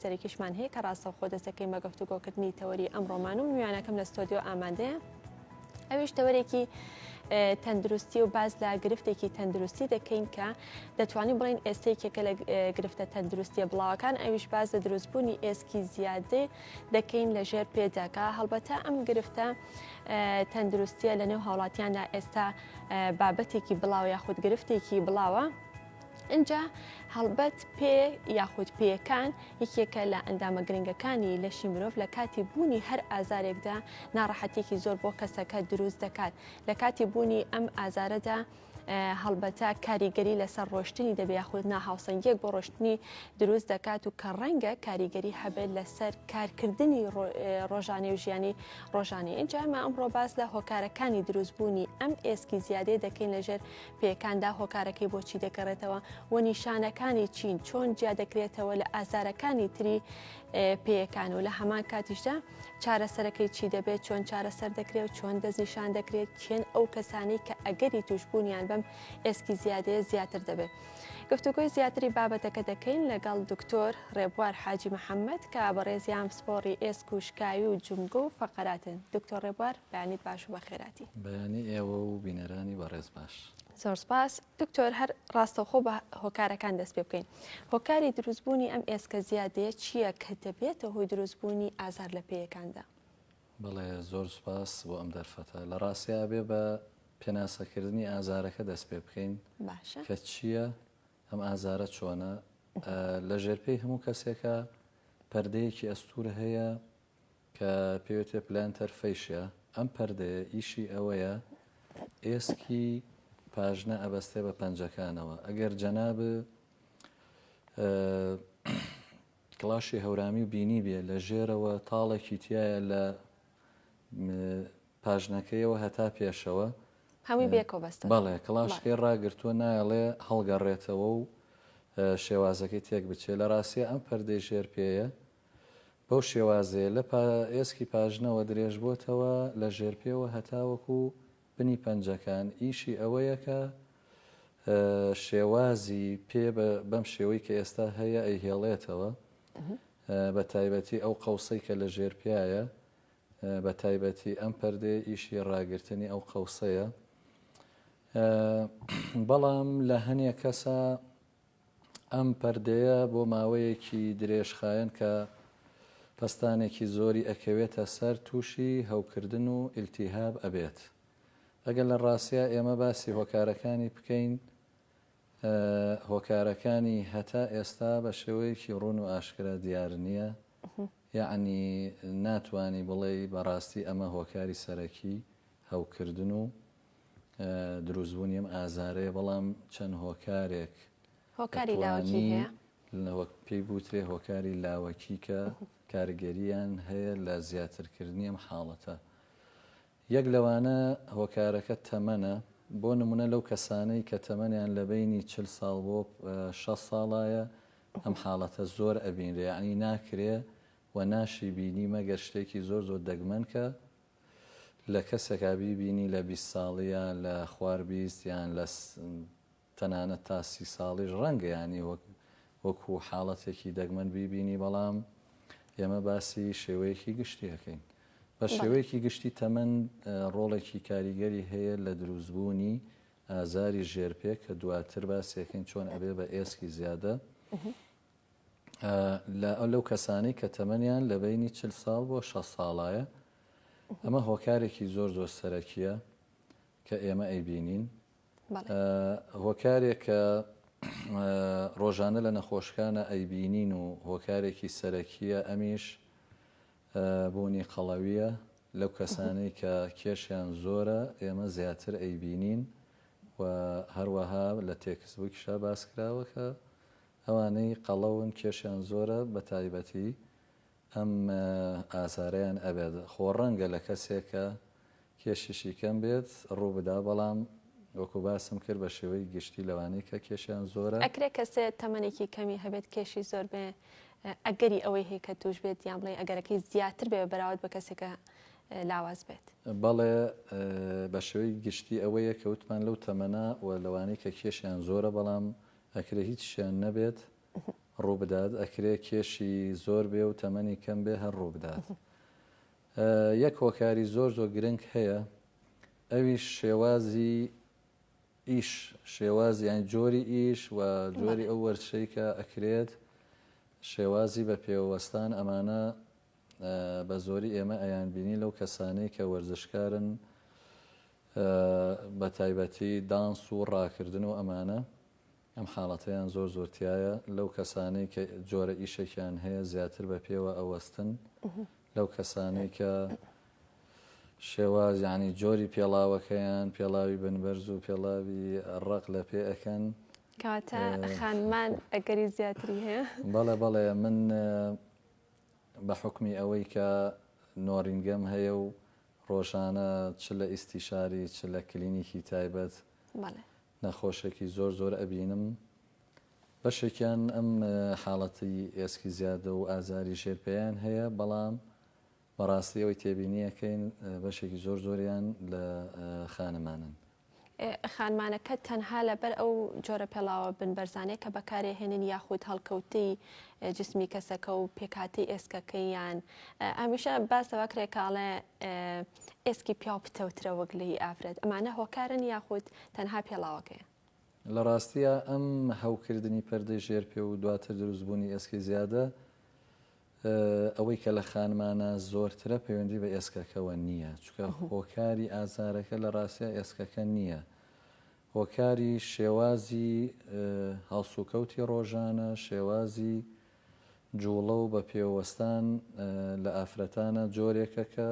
سەرێکیشمان هەیە کە ڕاستەوخۆ دەست دەکەین بە گفتوگۆکردنی تەوەری ئەم ڕۆمان و میوانەکەم لە ستۆدیۆ ئامادەیە ئەویش تەوەرێکی تەندروستی و باز لە گرفتێکی تەندروستی دەکەین کە دەتوانین بڵین ئێستێکێکە لە گرفتە تەندروستیە بڵاوەکان ئەویش باز لە دروستبوونی ئێسکی زیادێ دەکەین لە ژێر پێداکە هەڵبەتە ئەم گرفتە تەندروستیە لە نێو هاوڵاتیاندا ئێستا بابەتێکی بڵاو یاخود گرفتێکی بڵاوە ئینجا هەڵبەت پێ یاخود پێیەکان یەکێکە لە ئەندامە گرنگەکانی لەشی مرۆڤ لە کاتی بوونی هەر ئازارێکدا ناڕەحەتێکی زۆر بۆ کەسەکە دروست دەکات لە کاتی بوونی ئەم ئازارەدا هەڵبەتە کاریگەری لەسەر ڕۆشتنی دەبێ یاخود ناهاوسەنگیەک بۆ ڕۆشتنی دروست دەکات و کە ڕەنگە کاریگەری هەبێت لەسەر کارکردنی ڕۆژانێ و ژیانی ڕۆژانی ئینجا ئەمە ئەمڕۆ باس لە هۆکارەکانی دروستبوونی ئەم ئێسکی زیادەیە دەکەین لەژێر پێکاندا هۆکارەکەی بۆ چی دەگەڕێتەوە و نیشانەکانی چین چۆن جیا دەکرێتەوە لە ئازارەکانی تری پێیەکان و لە هەمان کاتیشدا چارەسەرەکەی چی دەبێت چۆن چارەسەر دەکرێت و چۆن دەستنیشان دەکرێت چێن ئەو کەسانی کە ئەگەری توشببوونیان بەم ئێسکی زیادەیە زیاتر دەبێت. گفتوگۆی زیاتری بابەتەکە دەکەین لەگەڵ دکتۆر ڕێبوار حاجی محەممەد کە بەڕێزیان پسپۆڕی ئێسک و شکاوی و جمگۆ و فەقەراتن دکتۆر ڕێبوار بەیانیت باش و بەخێراتی. بەیانی ئێوە و بینەرانی بەڕێز باش. زۆر سپاس دکتۆر هەر ڕاستەوخۆ بە هۆکارەکان دەست پێ بکەین هۆکاری دروستبوونی ئەم ئێسکە زیادەیە چییە کە دەبێتە هۆی دروستبوونی ئازار لە پێیەکاندا بڵێ زۆر سپاس بۆ ئەم دەرفەتە لە ڕاستیا بێ بە پێناسەکردنی ئازارەکە دەست پێ بکەین باشە کە چییە ئەم ئازارە چۆنە لە ژێرپێی هەموو کەسێکە پەردەیەکی ئەستور هەیە کە پێوترێ Planter Fascia ئەم پەردەیە ئیشی ئەوەیە ئێسکی پاژنە ئەبەستێ بە پەنجەکانەوە ئەگەر جەناب کڵاشی هەورامی و بینی بێ لە ژێرەوە تاڵێکی تایە لە پاژنەکەیەوە هەتا پێشەوە هەمی بێکۆ بەست بەڵێ کڵاشکەی ڕاگرتووە نایڵێ هەڵگەڕێتەوە و شێوازەکەی تێک بچێت لە ڕاستە ئەم پەردەی ژێر پێەیە بەو شێوازەیە لە پاێسکی پاژنەوە درێژبۆتەوە لە ژێرپێوە هەتاوەکو بنی پەنجەکان، ئیشی ئەوەیە کە شێوازی پێ بەم شێوەی کە ئێستا هەیە ئەیهێڵێتەوە بە تایبەتی ئەو قەوسەی کە لە ژێر پیاە بە تایبەتی ئەم پەردێ ئیشی ڕاگررتنی ئەو قەوسەیە بەڵام لە هەنێ کەسە ئەم پەردەیە بۆ ماوەیەکی درێژخایەن کە پەستانێکی زۆری ئەکەوێتە سەر تووشی هەوکردن و ئیلتیهاب ئەبێت ئەگەر لە ڕاستیا ئێمە باسی هۆکارەکانی بکەین هۆکارەکانی هەتا ئێستا بە شێوەیەکی ڕون و ئاشکرا دیار نییە یعنی ناتانی بڵێ بەڕاستی ئەمە هۆکاری سەرەکی هەوکردن و دروست بونی ئەم ئازارەیە بەڵام چەند هۆکارێک هۆکاری لاوەکی هەیە وەک پێی بوترێ هۆکاری لاوەکی کە کارگەریان هەیە لە زیاترکردنی ئەم حاڵەتە یەک لەوانە هۆکارەکە تەمەنە بۆ نمونە لەو کەسانەی کە تەمەنیان لە بینی چل ساڵ بۆ شە ساڵایە ئەم حاڵەتە زۆر ئەبینرێ عنی ناکرێ و ناشی بینی مەگەر شتێکی زۆر زۆر دەگمەن کە لە کەسێکا بیبینی لە بیست ساڵی یا لە خوار بیست یان لە تەنانەت تا سی ساڵیش ڕەنگە یانی وەک وەکو حاڵەتێکی دەگمەن بیبینی بەڵام ئێمە باسی شێوەیەکی گشتی ئەکەین بە شێوەیەکی گشتی تەمەن ڕۆڵێکی کاریگەری هەیە لە دروستبوونی ئازاری ژێرپێ کە دواتر باسێکەین چۆن ئەبێ بە ئێسکی زیادە لەو کەسانەی کە تەمەنیان لە بەینی چل ساڵ بۆ شەست ساڵایە، ئەمە هۆکارێکی زۆر زۆر سەرەکییە کە ئێمە ئەیبینین. هۆکارێک کە ڕۆژانە لە نەخۆشکانە ئەیبینین و هۆکارێکی سەرەکییە ئەمیش بوونی قەڵەوییە لەو کەسانەی کە کێشیان زۆرە ئێمە زیاتر ئەیبینین و هەروەها لە تێکسبووکیشا باسکراوە کە ئەوانەی قەڵەون کێشیان زۆرە بەتایبەتی ئەم ئازارەیان ئەبێت خۆ ڕەنگە لە کەسێکە کێشیشی کەم بێت ڕووبدا بەڵام وەکو باسم کرد بە شێوەی گشتی لەوانەی کە کێشیان زۆرە. ئەکرێ کەسێ تەمەنێکی کەمی هەبێت کێشی زۆر بێ ئەگەری ئەوەی هەیە کە توش بێت یان بڵێ ئەگەرەکەی زیاتر بێ بەراورد بە کەسێکە لاواز بێت؟ بەڵێ بە شێوەی گشتی ئەوەیە کە وتمان لەو تەمەنە و لەوانەی کە کێشیان زۆرە بەڵام ئەکرێ هیچیان نەبێت ڕووبدات ئەکرێ کێشی زۆر بێ و تەمەنی کەم بێ هەر ڕووبدات یەک هۆکاری زۆر زۆر گرنگ هەیە ئەویش شێوازی ئیش شێوازیان جۆری ئیش و جۆری ئەو وەرچەی کە ئەکرێت شێوازی بە پێوەستان ئەمانە بە زۆری ئێمە ئەیان بینی لەو کەسانەی کە وەرزشکارن بە تایبەتی دانس و ڕاکردن و ئەمانە ئەم حاڵەتەیان زۆر زۆر تایە لەو کەسانەی کە جۆرە ئیشێکیان هەیە زیاتر بە پێوە ئەوەستن لەو کەسانەی کە شێواز یعنی جۆری پێڵاوەکەیان پێڵاوی بنبەرز و پێڵاوی ڕق لە پێ ئەەکەن کاتە خانمان ئەگەری زیاتری هەیە بەڵێ بەڵێ من بە حوکمی ئەوەی کە نۆرینگەم هەیە و ڕۆژانە چ لە ئیستیشاری چ لە کلینیکی تایبەت نەخۆشێکی زۆر زۆر ئەبینم بەشێکیان ئەم حاڵەتی ئێسکی زیادە و ئازاری ژێر پێیان هەیە بەڵام بەڕاستی ئەوەی تێبینیەکەین بەشێکی زۆر زۆریان لە خانمانن خانمانەکە تەنها لەبەر ئەو جۆرە پێڵاوە بن بەرزانەیە کە بەکارێهێنن یاخود هەڵکەوتەی جسمی کەسەکە و پێکاتی ئێسکەکەیان ئەمیشە باسەوە کرێکاڵێ ئێسکی پیاو پتەوترە وەک لەی ئافرەت ئەمانە هۆکارن یاخود تەنها پێڵاوەکەیە لە ڕاستیە ئەم هەوکردنی پەردەی ژێرپێ و دواتر دروستبوونی ئێسکی زیادە ئەوەی کە لە خانمانا زۆرترە پەیوەندی بە ئێسکەکەوە نییە، چونکە هۆکاری ئازارەکە لە ڕاستیا ئێسکەکە نییە، هۆکاری شێوازی هەڵسوکەوتی ڕۆژانە، شێوازی جوڵە و بەپێوەستان لە ئافرەتانا جۆرێکە کە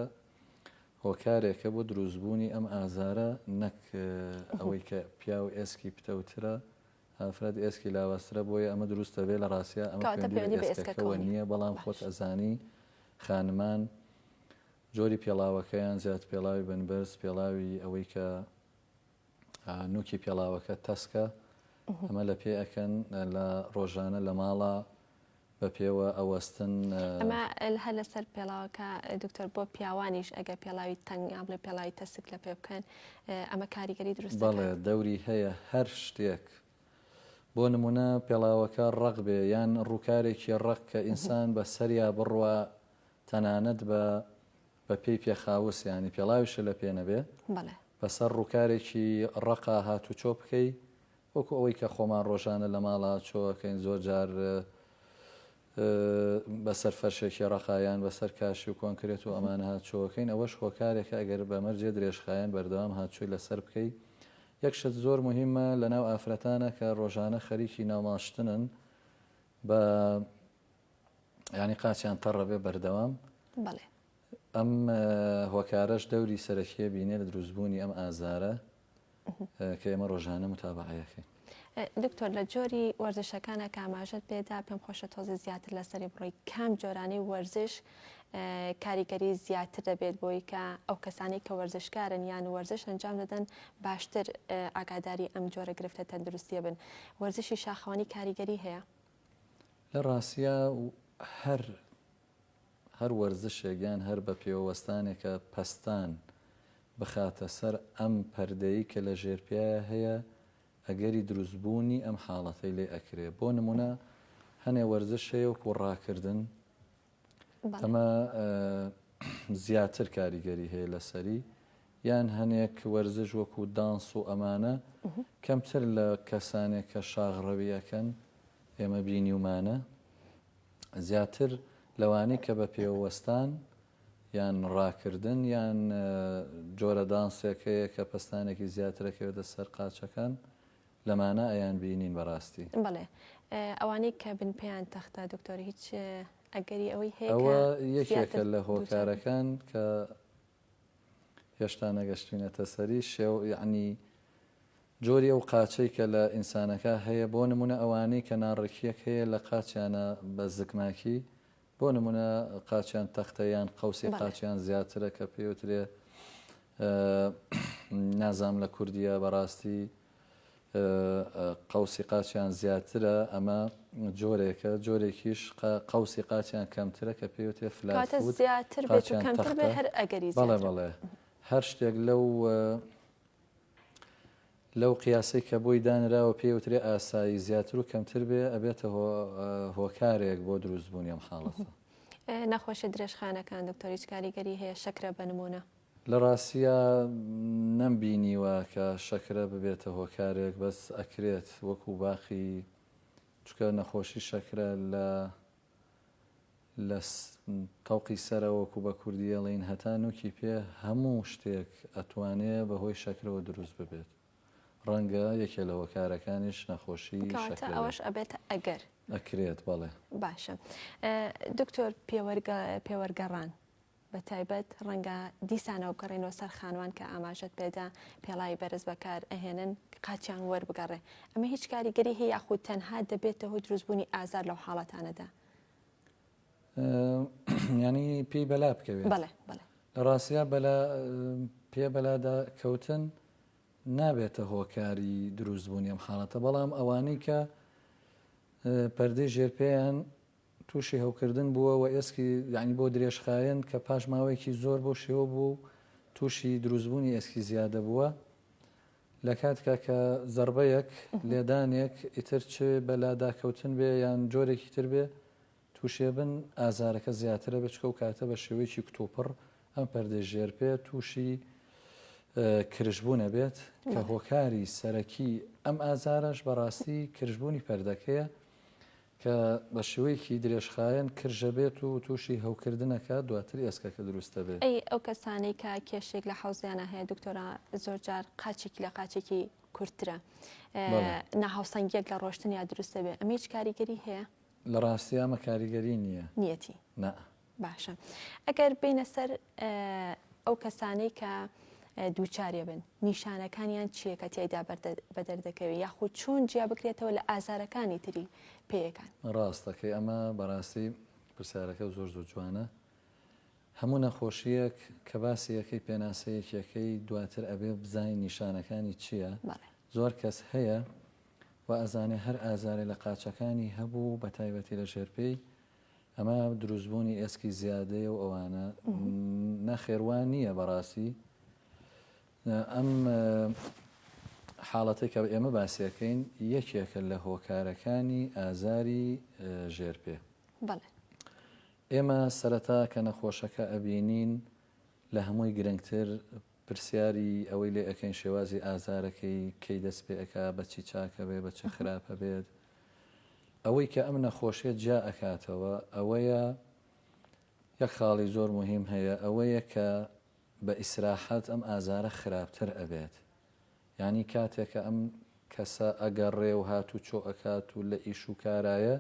هۆکارێکە بۆ دروستبوونی ئەم ئازارە نەک ئەوەی کە پیاو ئێسکی پتەوترە ئافرەت ئێسکی لاوازترە بۆیە ئەمە دروست دەبێت لە ڕاستیا ئەمە کەواتە پەیوەندی بە پەیوەندی بە ئێسکەکەوە ئێسکەکەوە نییە نییە بەڵام خۆت باش ئەزانی خانمان جۆری پێڵاوەکەیان زیاد پێڵاوی بن بەرز پێڵاوی ئەوەی کە ئا، نوکی پێڵاوەکە تەسکە ئەمە لە پێ ئەکەن لە ڕۆژانە لە ماڵە بە پێوە ئەوەستن. ئەمە هەر لەسەر پێڵاوەکە دکتۆر بۆ پیاوانیش ئەگەر پێڵاوی تەنگ یا بڵێ پێڵاوی تەسک لە پێ بکەن ئەمە کاریگەری دروست دەکات؟ بەڵێ دەوری هەیە هەر شتێک بۆ نموونە پێڵاوەکە ڕەق بێ یان ڕووکارێکی ڕەق کە ئینسان بە سەریا بڕوا تەنانەت بە بە پێی پێخاوس یانی پێڵاویشە لە پێ نەبێ بەسەر ڕووکارێکی ڕەقا هاتوچۆ بکەی وەکو ئەوەی کە خۆمان ڕۆژانە لە ماڵا چۆ ئەکەین زۆر جار بە سەر فەرشێکی ڕەقا یان بە سەر کاشی و کۆنکرێت و ئەمانە هاتچۆ ئەکەین ئەوەش هۆکارێکە ئەگەر بە مەرجێ درێژخایەن بەردەوام هاتچۆی لە سەر بکەی یەک شت زۆر موهیمە لە ناو ئافرەتانە کە ڕۆژانە خەریکی ناوماشتنن بە ینی قاچیان تەڕەبێ بەردەوام ئەم هۆکارەش دەوری سەرەکیە بینێ لە دروستبوونی ئەم ئازارە کە ئێمە ڕۆژانە متابعەیەکەین. دکتۆر لە جۆری وەرزشەکان ئەکە ئاماژەت پێدا پێم خۆشە تۆزی زیاتر لەسەری بڕۆی کام جۆرانی وەرزش کاریگەری زیاتر دەبێت بۆی کە ئەو کەسانی کە وەرزشکارن یان وەرزش ئەنجام دەدەن باشتر ئاگاداری ئەم جۆرە گرفتە تەندروستیە بن وەرزشی شاخەوانی کاریگەری هەیە لە ڕاستە هەر هەر وەرزشێک یان هەر بەپێوەوەستانێکە پەستان بخاتە سەر ئەم پەردەی کە لە ژێرپێیایە هەیە ئەگەری دروست بوونی ئەم حاڵەتەی لێ ئەکرێ بۆ نمونە هەنێ وەرزش هەیە وەکو ڕاکردن ئەمە زیاتر کاریگەری هەیە لەسەری یان هەنێک وەرزش وەکو دانس و ئەمانە کەمتر لە کەسانێک کە شاغڕەویەکەن ئێمە بینیومانە زیاتر لەوانەی کە بە پێوەستان یان ڕاکردن یان جۆرە دانسێک هەیە کە پەستانێکی زیاتر ئەکەوێتە سەر قاچەکان لەمانە ئەیان بینین بەڕاستی بەڵێ ئەوانەی کە بن پێیان تەختە دکتۆر هیچ ئەگەری ئەوەی هەیە ئەوە یەکێکە لە هۆکارەکان کە هێشتا نەگەشتوینەتە سەری شێو یعنی جۆری ئەو قاچەی کە لە ئینسانەکا هەیە بۆ نموونە ئەوانەی کە ناڕێکییەک هەیە لە قاچیانا بە زکماکی بۆ نموونە قاچیان تەختە یان قەوسی بەڵێ قاچیان زیاترە کە پێی وترێ ئە نازام لە کوردیە بەڕاستی ئە ئە قەوسی قاچیان زیاترە ئەمە جۆرێکە جۆرێکیش قە قەوسی قاچیان کەمترە کە پێی وترێ فلات کاتە فوود زیاتر بێت و قاچیان کەمتر بێت تەختە هەر ئەگەری بەڵێ زیاترە بەڵێ هەر شتێک لەو لەو قیاسەی کە بۆی دانراوە پێی ئەوترێ ئاسایی، زیاتر و کەمتر بێ ئەبێتە هۆکارێک بۆ دروست بوونی ئەم حاڵەتە. نەخۆشیە درێژخایەنەکان دکتۆر هیچ کاریگەری هەیە شەکرە بە نمونە؟ لە ڕاستییا نەم بینیوە کە شەکرە ببێتە هۆکارێک بەس ئەکرێت وەکو باقی چونکە نەخۆشی شەکرە لە لە تەوقی سەرە وەکو بە کوردی ئەڵێین هەتا نوکی پێ هەموو شتێک ئەتوانێ بە هۆی شەکرەوە دروست ببێت ڕەنگە یەکێ لە هۆکارەکانیش نەخۆشی شەکرە ئەوەش ئەبێت ئەگەر ئەکرێت بەڵێ باشە دکتۆر پێوەرگە پێوەرگەڕان بە تایبەت ڕەنگە دیسانەوە بگەڕێینەوە سەر خانوان کە ئاماژەت پێدا پێڵاوی بەرز بەکار ئەهێنن قاچیان وەربگەڕێ ئەمە هیچ کاریگەری هەیە یاخود تەنها دەبێتە هۆی دروستبوونی ئازار لەو حاڵەتانەدا ینی پێی بەلا بکەوێت بەڵێ بەڵێ لە ڕاستە بەلا پێ بەلادا کەوتن نابێتە هۆکاری دروستبوونی ئەم حاڵەتە بەڵام ئەوانەی کە پەردەی ژێرپیان تووشی هەوکردن بووە و ئێسکی یەعنی بۆ درێژخایەن کە پاش ماوەیەکی زۆر بەو شێوە بووە و تووشی دروستبوونی ئێسکی زیادە بووە لە کاتکا کە زەڕبەیەک، لێدانێک، ئیتر چ بە لاداکەوتن بێ یان جۆرێکی تر بێ تووشێبن ئازارەکە زیاترە بێ چکە ئەو کاتە بە شێوەیەکی کتوپڕ ئەم پەردەی ژێر پێ تووشی کرژبوون ئەبێت کە هۆکاری سەرەکی ئەم ئازارەش بەڕاستی کرژبوونی پەردەکەیە کە بە شێوەیەکی درێژخایەن کرژە بێت و تووشی هەوکردن ئەکات دواتر ئێسکەکە دروست ئەبێ. ئەی ئەو کەسانەی کە کێشەیەک لە حەوزیانا هەیە دکتۆرا زۆر جار قاچێکی لە قاچێکی کورتترە ناهاوسەنگیەک لە ڕۆشتن یا دروست دەبێت ئەمە هیچ کاریگەری هەیە؟ لە ڕاستیا ئەمە کاریگەری نییە. نیەتی؟ نا. باشە ئەگەر بینە سەر ئەو کەسانەی کە دووچارێ بن نیشانەکانیان چیە کە تیایدا بە دەردەکەوێت یاخود چۆن جیا بکرێتەوە لە ئازارەکانی تری پێیەکان ڕاستەکەی ئەمە بەڕاستی پرسیارەکە زۆر زۆر جوانە هەموو نەخۆشیەک کە باسیەکەی پێناسەیەکیەکەی دواتر ئەبێ بزانین نیشانەکانی چییە زۆر کەس هەیە و ئەزانێ هەر ئازارێ لە قاچەکانی هەبوو بە تایبەتی لە ژێرپێی ئەمە دروستبوونی ئێسکی زیادەیە و ئەوانە نەخێر وا نییە بەڕاستی ئەم حاڵەتێک کە ئێمە باسیەکەین یەکێکە لە هۆکارەکانی ئازاری ژێرپێ ئێمە سەرەتا کە نەخۆشەکە ئەبینین لە هەمووی گرنگتر پرسیاری ئەوەی لێ ئەەکەین شێوازی ئازارەکەی کەی دەست پێ ئەک بەچی چاکە بێ بە چ خراپە بێت ئەوەی کە ئەم نەخۆشیە جیا ئەکاتەوە ئەوەیە یەک خاڵی زۆر موهیم هەیە ئەوەیە کە بە ئیسراحەت ئەم ئازارە خراپتر ئەبێت یانی کاتێ کە ئەم کەسە ئەگەڕێ و هاتوچۆ ئەکات و لە ئیش و کارایە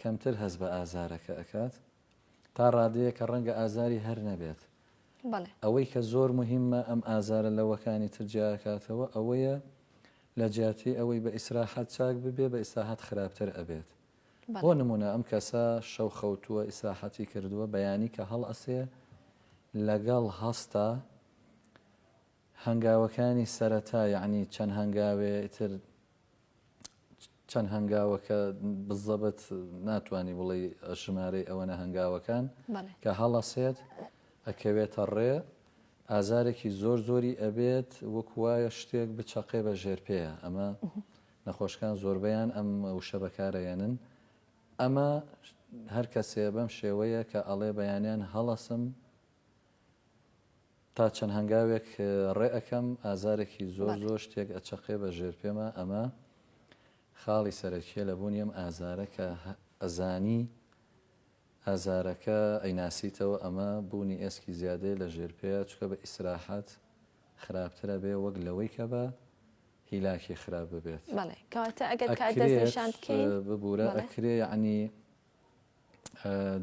کەمتر هەست بە ئازارەکە ئەکات. تا ڕادەیە کە ڕەنگە ئازاری هەر نەبێت. بەڵێ. ئەوەی کە زۆر موهیممە ئەم ئازارە لەوەکانی تر جیا ئەکاتەوە ئەوەیە لە جیاتی ئەوەی بە ئیسراحەت چاک ببێ بە ئیسراحەت خراپتر ئەبێت. بۆ بەڵێ. نموونە ئەم کەسە شەو خەوتووە ئیسراحەتی کردووە بەیانی کە هەڵئەسێ لەگەڵ هەستا هەنگاوەکانی سەرەتا یەعنی چەند هەنگاوێ ئیتر چەند هەنگاوەکە بزەبت ناتوانانی بڵێ ژمارەی ئەوەنە هەنگاوەکان کە هەڵەسێت ئەکەوێتە ڕێ ئازارێکی زۆر زۆری ئەبێت وەک وایە شتێک بچەقێ بە ژێر پێەیە ئەمە نەخۆشکان زۆربیان ئەم وشە بەکارەیەنن ئەمە هەر کەسێ بەم شێوەیە کە ئەڵێ بەیانیان هەڵەسم تا چەند هەنگاوێک ڕێ ئەکەم ئازارێکی زۆر زۆر شتێک ئەچەقێ بە ژێر پێما ئەمە خاڵی سەرەکیە لە بوونی ئەم ئازارە کە ئەزانی ئازارەکە ئەیناسیتەوە ئەمە بوونی ئێسکی زیادەیە لە ژێر پێیا چکە بە ئیسراحەت خراپترە بێ وەک لەوەی کە بە هیلاکی خراپ ببێت بەڵێ کەواتە ئەگەر کار دەست نیشان بکەین ببورە بەڵێ. ئەکرێ یعنی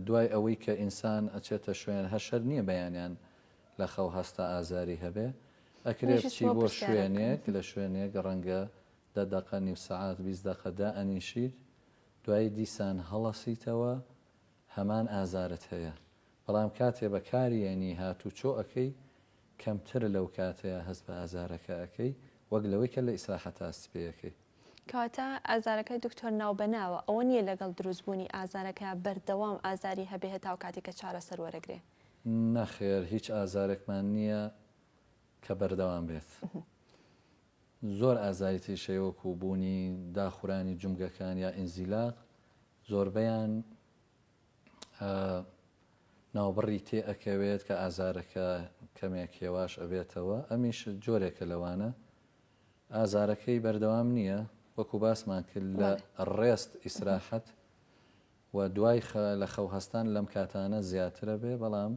دوای ئەوەی کە ئینسان ئەچێتە شوێن هەشەر نیە بەیانیان لە خەو هەستا ئازاری هەبێ ئەکرێ منیش بچی هیچمەوە بۆ پرسیارەک کەم شوێنێک لە شوێنێک ڕەنگە دە دەقە نیو سەعات بیست دەقە دائەنیشیت دوایی دیسان هەڵەسیتەوە هەمان ئازارت هەیە بەڵام کاتێ بە کاریەنی هاتوچۆ ئەکەی کەمترە لەو کاتەیا هەست بە ئازارەکە ئەکەی وەک لەوەی کە لە ئیسراحەتا سپێ ئەکەی. کەواتە ئازارەکە دکتۆر ناوبەناوە ئەوە نیە لەگەڵ دروست بوونی ئازارەکە بەردەوام ئازاری هەبێ هەتاو کاتی کە چارەسەر وەرەگرێ. نەخێر هیچ ئازارێکمان نیە کە بەردەوام بێت زۆر ئازاری تریش هەیە وەکو بوونی داخورانی جومگەکان یا ئینزیلاق زۆربەیان ناوبڕی تێ ئەکەوێت کە ئازارەکە کەمێک هێواش ئەبێتەوە ئەمیش جۆرێکە لەوانە ئازارەکەی بەردەوام نییە وەکو باسمان کرد لە ڕێست ئیسراحەت و دوای لە خەو هەستان لەم کاتانە زیاترە بێ بەڵام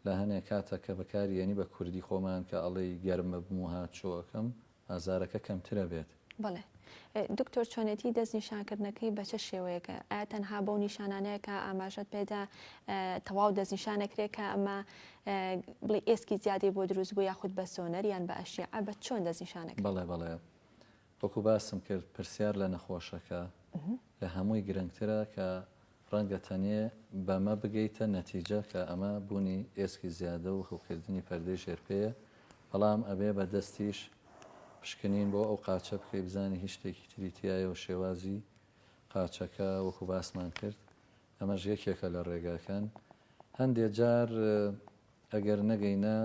لە هەنێ کاتە کە بەکاری یەنی بە کوردی خۆمان کە ئەڵێی گەرمبم و هاتشۆ ئەکەم ئازارەکە کەمتر ئەبێت. بەڵێ دکتۆر چۆنێتی دەست نیشان کردنەکەی بە چ شێوەیەکە ئایا تەنها بەو نیشانانەیە کە ئاماژەت پێدا تەواو دەست نیشان ئەکرێ کە ئەمە بڵێ ئێسکی زیادەی بۆ دروست بوو یاخود بە سۆنەر یان بە ئەشیعە بە چۆن دەست نیشان ئەکرێ؟ بەڵێ بەڵێ وەکو باسم کرد پرسیار لە نەخۆشەکە لە هەمووی گرنگترە کە ڕەنگە تەنێ بەمە بگەیتە نەتیجە کە ئەمە بوونی ئێسکی زیادە و هەوکردنی پەردەی ژێر پێیە، بەڵام ئەبێ بە دەستیش پشکنین بۆ ئەو قاچە بکەی بزانی هیچ شتێکی تری تیایە و شێوازی قاچەکە وەکو باسمان کرد ئەمەش یەکێکە لە ڕێگاکان هەندێ جار ئەگەر نەگەینە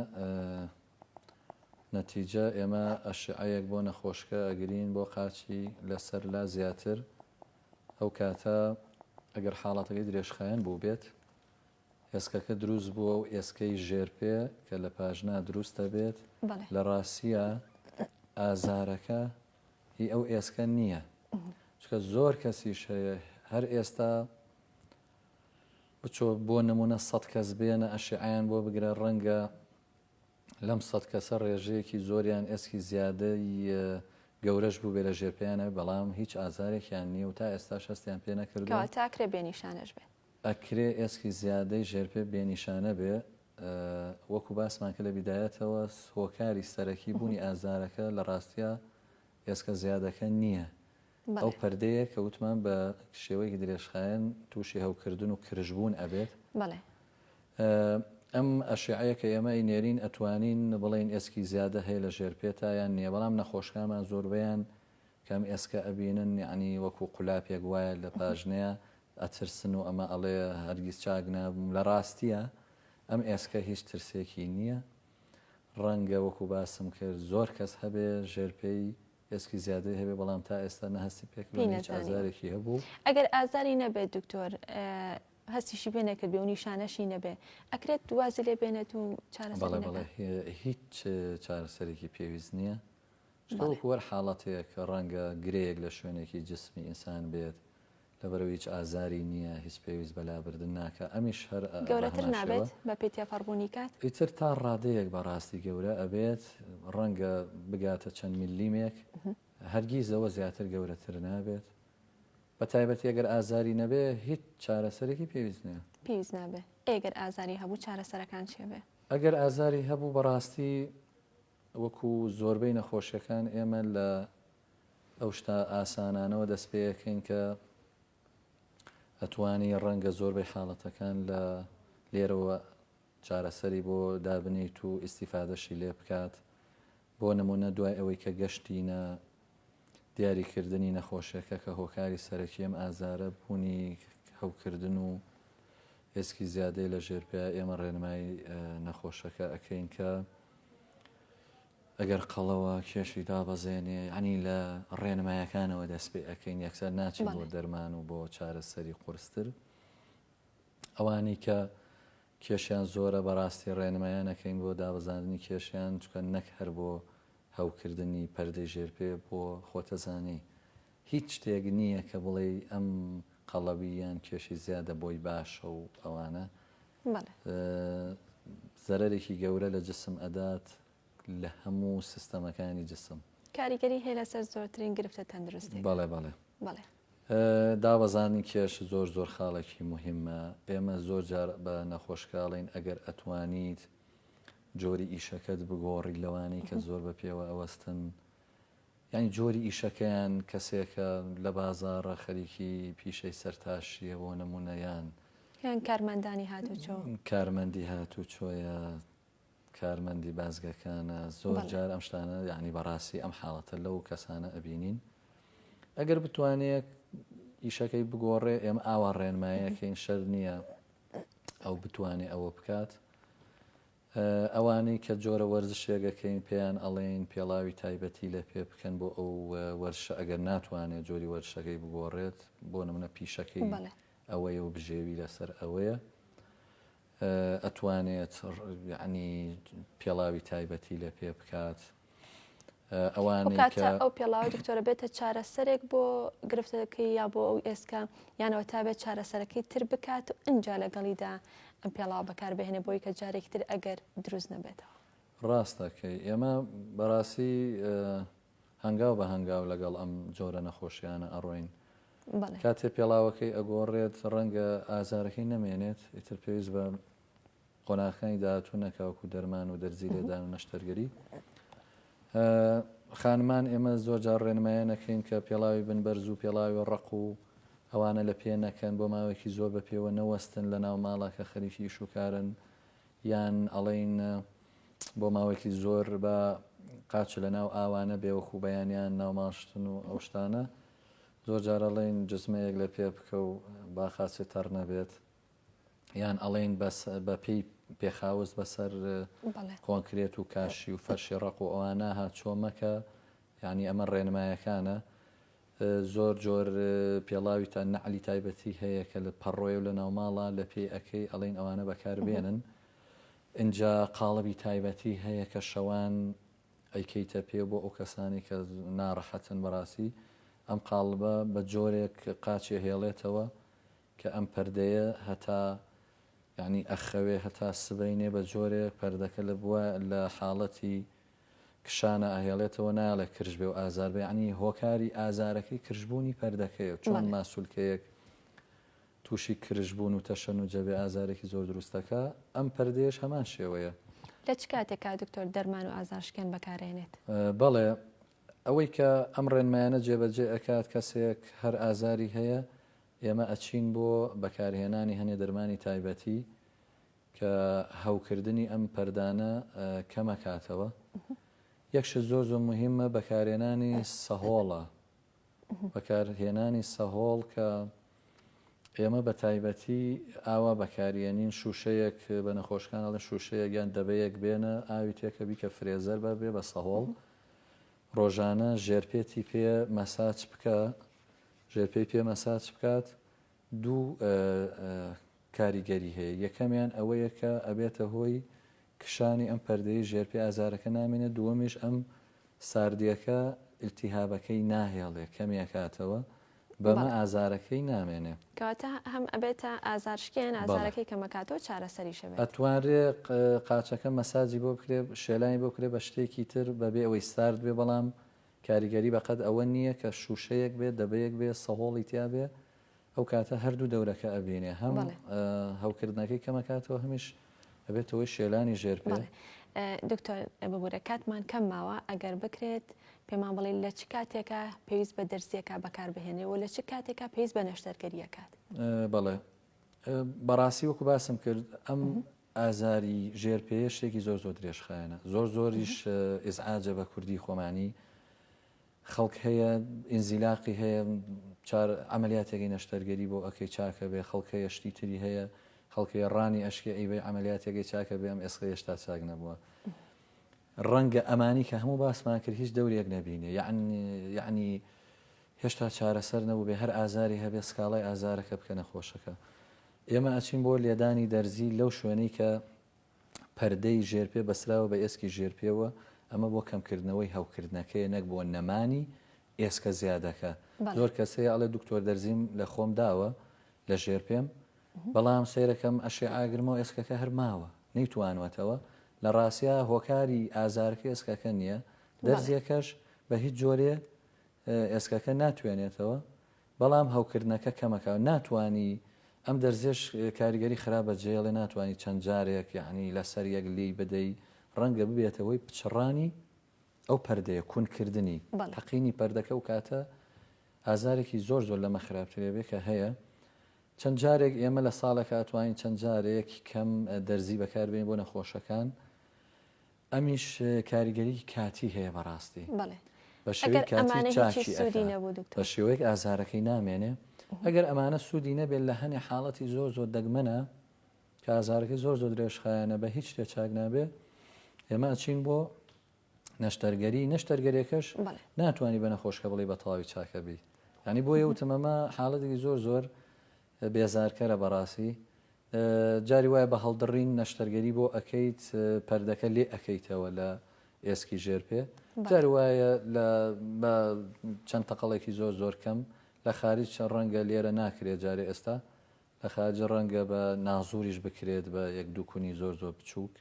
نەتیجە ئێمە ئەشعەیەک بۆ نەخۆشکە ئەگرین بۆ قاچی لەسەر لا زیاتر ئەو کاتە ئەگەر حاڵەتەکەی درێژخایەن بووبێت، ئێسکەکە دروست بووە و ئێسکەی ژێرپێ کە لە پاژنا دروست دەبێت، بەڵێ. لە ڕاستییە ئازارەکە هی ئەو ئێسکە نییە، چونکە زۆر کەسیش هەیە هەر ئێستا بچۆ بۆ نموونە سەد کەس بێنە ئەشیعەیان بۆ بگرە ڕەنگە، لەم سەد کەسە ڕێژەیەکی زۆریان ئێسکی زیادەی گەورەش بووبێ لە ژێر پێیان نەبێ بەڵام هیچ ئازارێکیان نییە و تا ئێستاش هەستیان پێ نەکردووە. کەواتە ئەکرێ بێ نیشانەش بێ؟ ئەکرێ ئێسکی زیادەی ژێرپێ بێ نیشانە بێ، وەکو باسمان کرد لە بیدایەتەوە هۆکاری سەرەکی بوونی ئازارەکە لە ڕاستیا ئێسکە زیادەکە نییە، ئەو پەردەیە کە وتمان بە شێوەیەکی درێژخایەن تووشی هەوکردن و کرژبوون ئەبێت. بەڵێ. ئەم ئەشیعەیە کە ئێمە ئەینێرین ئەتوانین بڵێین ئێسکی زیادە هەیە لە ژێر پێتا یان نییە، بەڵام نەخۆشکانمان زۆربەیان کە ئەم ئێسکە ئەبینن یەعنی وەکوو قولاپێک وایە لە پاژنەیە ئەترسن و ئەمە ئەڵێ هەرگیز چاک نابم، لە ڕاستییە ئەم ئێسکە هیچ ترسێکی نییە. ڕەنگە وەکوو باسم کرد زۆر کەس هەبێ ژێر پێی ئێسکی زیادەی هەبێت بەڵام تا ئێستا نە هەستی پێکردووە نە هیچ ئازارێکی هەبوو. ئەگەر ئازاری نەبێت دکتۆر هەستیشی پێ نەکردبێ و نیشانەشی نەبێ ئەکرێت وازی لێ بێنێت و چارەسەری بەڵێ بەڵێ نەکات. هی- هیچ چارەسەرێکی پێویست نییە شتە بەڵێ. وەکو هەر حاڵەتێک ڕەنگە گرێیەک لە شوێنێکی جسمی ئینسان بێت لەبەرئەوەی هیچ ئازاری نییە، هیچ پێویست بە لابردن ناکا، ئەمیش هەر بە هەمان شێوە. گەورەتر نابێت بە پێی تێپەڕبوونی کات؟ ئیتر تا ڕادەیەک بە ڕاستی گەورە ئەبێت، ڕەنگە بگاتە چەند میللیمێک، هەرگیز لەوە زیاتر گەورەتر نابێت، بە تایبەتی ئەگەر ئازاری نەبێ هیچ چارەسەرێکی پێویست نییە. پێویست نابێ، ئەی ئەگەر ئازاری هەبوو چارەسەرەکان چێ بێ؟ ئەگەر ئازاری هەبوو بە ڕاستی وەکو زۆربەی نەخۆشیەکان ئێمە لە ئەو شتە ئاسانانەوە دەست پێ ئەکەین کە ئەتوانی ڕەنگە زۆربەی حاڵەتەکان لە لێرەوە چارەسەری بۆ دابنیت و ئیسیفادەشی لێ بکات بۆ نمونە دوای ئەوەی کە گەشتینە دیاریکردنی نەخۆشەکە کە هۆکاری سەرەکی ئەم ئازارە بوونی هەوکردن و ئێسکی زیادەی لە ژێرپیا ئێمە ڕێنمای نەخۆشەکە ئەەکەین کە ئەگەر قەڵەوە کێشی دابەزێنێ ئەنی لە ڕێنمایەکانەوە دەست پێ ئەەکەین یەکسەر ناچی بۆ دەرمان و بۆ چارەسەری قرستر ئەوانەی کە کێشیان زۆرە بەڕاستی ڕێنمایان ئەکەین بۆ دابەزاندنی کێشیان چونکە نەک هەر بۆ هەوکردنی پەردەی ژێر پێ بۆ خۆتەزانی هیچ شتێک نییە کە بڵێی ئەم قەڵەوی یان کێشی زیادە بۆی باشە و ئەوانە زەرەرێکی گەورە لە جسم ئەدات لە هەموو سیستەمەکانی جسم کاریگەری هەیە لەسەر زۆرترین گرفتە تەندروستی بەڵێ بەڵێ بەڵێ دابەزاندنی کێش زۆر زۆر خاڵێکی موهیمە، ئێمە زۆر جار بە نەخۆشکاڵین، ئەگەر ئەتوانیت جۆری ئیشەکەت بگۆڕی لەوانەی کە زۆر بە پێوە ئەوەستن، یانی جۆری ئیشەکەیان کەسێکە لە بازاڕە خەریکی پیشەی سەرتاشیە بۆ نمونە یان یان کارمەندانی هاتوچۆ. کارمەندی هاتوچۆیە کارمەندی بازگەکانە زۆر جار ئەم شتانە یعنی بەڕاستی ئەم حاڵەتە لەو کەسانە ئەبینین ئەگەر بتوانێت ئیشەکەی بگۆڕێ ئێمە ئاوا ڕێنمایەکەین شەر نییە ئەو بتوانێ ئەوە بکات ئەوانەی کە جۆرە وەرزشێگەکەین پێیان ئەڵێین پێڵاوی تایبەتی لە پێ بکەن بۆ ئەو وەرشە ئەگەر ناتوانێت جۆری وەرشەکەی بگۆڕێت بۆ نمونە پیشەکەی ئەوەیە و بژێوی لەسەر ئەوەیە ئەتوانێت یەعنی پێڵاوی تایبەتی لێ پێ بکات ئەوانەی کە ئەو پێڵاوی دکتۆرە بێتە چارەسەرێک بۆ گرفتەکەی یا بۆ ئەو ئێسکە یانەوە تا بێت چارەسەرەکەی تر بکات و ئەجا لەگەڵیدا ئەم پێڵاو بەکاربهێنێ بۆی کە جارێکی تر ئەگەر دروست نەبێتەوە ڕاستەکەی ئێمە بەڕاستی هەنگاو بە هەنگاو لەگەڵ ئەم جۆرە نەخۆشیانە ئەڕۆین بەڵێ. کاتێ پێڵاوەکەی ئەگۆڕێت ڕەنگە ئازارەکەی نەمێنێت ئیتر پێویست بە قۆناغەکانی داهاتوو نەکا وەکو دەرمان و دەرزی لێدان و نەشتەرگەری خانمان ئێمە زۆر جار ڕێنمایە نەکەین کە پێڵاوی بن بەرز و پێڵاوی ڕق و ئەوانە لە پێ نەکەن بۆ ماوەیەکی زۆر بە پێوە نەوەستن لە ناو ماڵەکە خەریکی ئیشوکارن یان ئەڵێن بۆ ماوەیەکی زۆر با قاچ لە ناو ئاوا نەبێ وەکوو بەیانیان ناو ماشتن و ئەو شتانە، زۆر جار ئەڵێن جزمەیەک لە پێ بکە و با قاچت تەڕ نەبێت، یان ئەڵێن بە پێی پێخاوس بەسەر کۆنکرێت و کاشی و فەرشی ڕەق و ئەوانە هاتچۆ مەکە، یانی ئەمە ڕێنمایەکانە. زۆر جۆر پێڵاوی تا نەعلی تایبەتی هەیە کە لە پەڕۆیە و لەناو ماڵە لە پێی ئەکەی ئەڵێن ئەوانە بەکار بێنن ئینجا قاڵبی تایبەتی هەیە کە شەوان ئەیکەیتە پێ بۆ ئەو کەسانی کە ناڕەحەتن بەڕاستی ئەم قاڵبە بە جۆرێک قاچێ هێڵێتەوە کە ئەم پەردەیە هەتا یعنی ئەخەوێ هەتا سبەینێ بە جۆرێ پەردەکە لە بووە لە حاڵەتی کشانە ئەهێڵێتەوە نایەڵێ کرژ بێ و ئازار بێ یەعنی هۆکاری ئازارەکەی کرژبوونی پەردەکەیە و چۆن ماسولکەیەک تووشی کرژبوون و تەشەنوجە بێ ئازارێکی زۆر دروست دەکا ئەم پەردەیەش هەمان شێوەیە. لە چ کاتێکا دکتۆر دەرمان و ئازارشکێن بەکارێنێت؟ بەڵێ ئەوەی کە ئەم ڕێنمایانە جێبەجێ ئەکات کەسێک هەر ئازاری هەیە ئێمە ئەچین بۆ بەکارهێنانی هەنێ دەرمانی تایبەتی کە هەوکردنی ئەم پەردانە کەمەکاتەوە یەک شت زۆر زۆر مهمە بەکارێنانی سەهۆڵە بەکارهێنانی سەهۆڵ کە ئێمە بە تایبەتی ئاوا بەکاریێنین شوشەیەک بە نەخۆشکان ئەڵێ شوشەیە گیان دەبەیەک بێنە ئاوی تێکە بیکە فرێزەر بە بێ بە سەهۆڵ ڕۆژانە ژێرپێتی پێ مەساچ بکە ژێرپێی پێ مەساچ بکات دوو کاریگەری هەیە، یەکەمیان ئەوەیە کە ئەبێتە هۆی کشانی ئەم پەردەیەی ژێرپێ ئازارەکە نامێنێت، دووەمیش ئەم ساردییەکە ئیلتیهابەکەی ناهێڵێ کەمی ئەکاتەوە بەمە ئازارەکەی نامێنێ. کەواتە هەم ئەبێتە ئازار شکێن بەڵێ. ئازارەکەی کەم ئەکاتەوە چارەسەریش ئەبێت. ئەتوانرێ قاچەکە مەساجی بۆ بکرێ شێلانی بۆ بکرێ بە شتێکی تر بەبێ ئەوەی سارد بێ بەڵام کاریگەری بەقەد ئەوە نیە کە شوشەیەک بێ دەبەیەک بێ سەهۆڵی تیا بێ ئەو کاتە هەردوو دەورەکە ئەبینێ هەم هەوکردنەکەی کەمەکاتەوە هەمیش ئەبێتەوەی شێلانی ژێر پێ دکتۆر ببورە کاتمان کەم ماوە ئەگەر بکرێت پێمان بڵێ لە چ کاتێکە پێویست بە دەرزیەکە بەکاربهێنێ و لە چ کاتێکە پێویست بە نەشتەرگەریەکات بەڵێ بەڕاستی وەکو باسم کرد ئەم ئازاری ژێر پێیە شتێکی زۆر زۆر درێژخایەنە زۆر زۆریش ئزعاجە بە کوردی خۆمانی خەڵک هەیە ئینزیلاقی هەیە چار ئەعملیاتێکی نەشتەرگەری بۆ ئەکەی چاکە بێ خەڵکەیە شتی تری هەیە خەڵکی ڕانی ئەشکی ئەیبێ ئەعملیاتێکی چاکە بێ ئەم ئێسقە هێشتا چاک نەبووە ڕەنگە ئەمانی کە هەموو باسمان کرد هیچ دەورێک نەبینێ یعنی یعنی هێشتا چارەسەر نەبوو بێ هەر ئازاری هەبێ سکاڵای ئازارەکە بکەنە خۆشەکە ئێمە ئەچین بۆ لێدانی دەرزی لەو شوێنەی کە پەردەی ژێرپێ بەستراوە بە ئێسکی ژێرپێوە، ئەمە بۆ کەمکردنەوەی هەوکردنەکەیە نەک بۆ نەمانی ئێسکە زیادەکە. زۆر کەس هەیە ئەڵێ دکتۆر دەرزیم لە خۆم داوە لە ژێرپێم، بەڵام سەیرەکەم ئەشێعە ئەگرمەوە ئێسکەکە هەر ماوە نەیتوانوەتەوە، لە ڕاستیا هۆکاری ئازارەکە ئێسکەکە نییە، دەرزیەکەش بە هیچ جۆرێ ئێسکەکە ناتوێنێتەوە، بەڵام هەوکردنەکە کەمەکە ناتوانی ئەم دەرزیەش کاریگەری خراپ بە جێڵێ ناتوانی چەند جارێک یەعنی لەسەر یەک لێی بدەی ڕەنگە ببێتە هۆی پچڕانی ئەو پەردەیە کون کردنی بەڵێ. تەقینی پەردەکە ئەو کاتە ئازارێکی زۆر زۆر لەمە خراپترێ بێ کە هەیە چەند جارێک ئێمە لە ساڵێکا ئەتوانین چەند جارێک کەم دەرزی بەکار بێین بۆ نەخۆشەکان ئەمیش کاریگەریی کاتی هەیە بەڕاستی. بەڵێ. بە شێوەی کاتی چاکی ئەکات. بە شێوەیەک ئازارەکەی نامێنێ. ئەگەر ئەمانە سوودی نەبێت لە هەنێ حاڵەتی زۆر زۆر دەگمەنە کە ئازارەکەی زۆر زۆر درێژخایەنە بە هیچ شتێ چاک نابێ ئێمە ئەچین بۆ نەشتەرگەری نەشتەرگەرێکەش ناتوانانی بە نەخۆشکە بڵێ بە تەواوی چاکە بی. ینی بۆ یەوتمەمە حاڵەتێکی زۆر زۆر بێزارکەرە بەڕاسی جاری وایە بە هەڵدڕین نەشتەرگەری بۆ ئەکەیت پەردەکە لێ ئەکەیتەوە لە ئێسکی ژێر پێ جاری وایە لە بە چەند تەقەڵێکی زۆر زۆر کەم لە خارج چەند ڕەنگە لێرە ناکرێت جارێ ئێستا لە خارج ڕەنگە بە نازوریش بکرێت بە یەک دوو کونی زۆر زۆر بچووک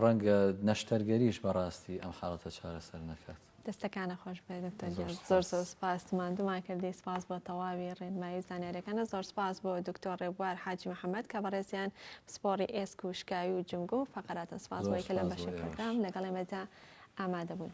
ڕەنگە نەشتەرگەریش بەڕاستی ئەم حاڵەتە چارەسەر نەکات. دەستەکانت خۆش بێت دکتۆر گیان زۆر زۆر سپاس ماندوومان کردی سپاس بۆ تەواوی ڕێنمایی و زانیاریەکانە زۆر سپاس بۆ دکتۆر ڕێبوار حاجی محەممەد کە بەڕێزیان پسپۆڕی ئێسک و شکاوی و جمگۆ و فەقەراتن سپاس بۆی کە لەم بەشی پرۆگرام لەگەڵ ئێمەدا ئامادە بوون.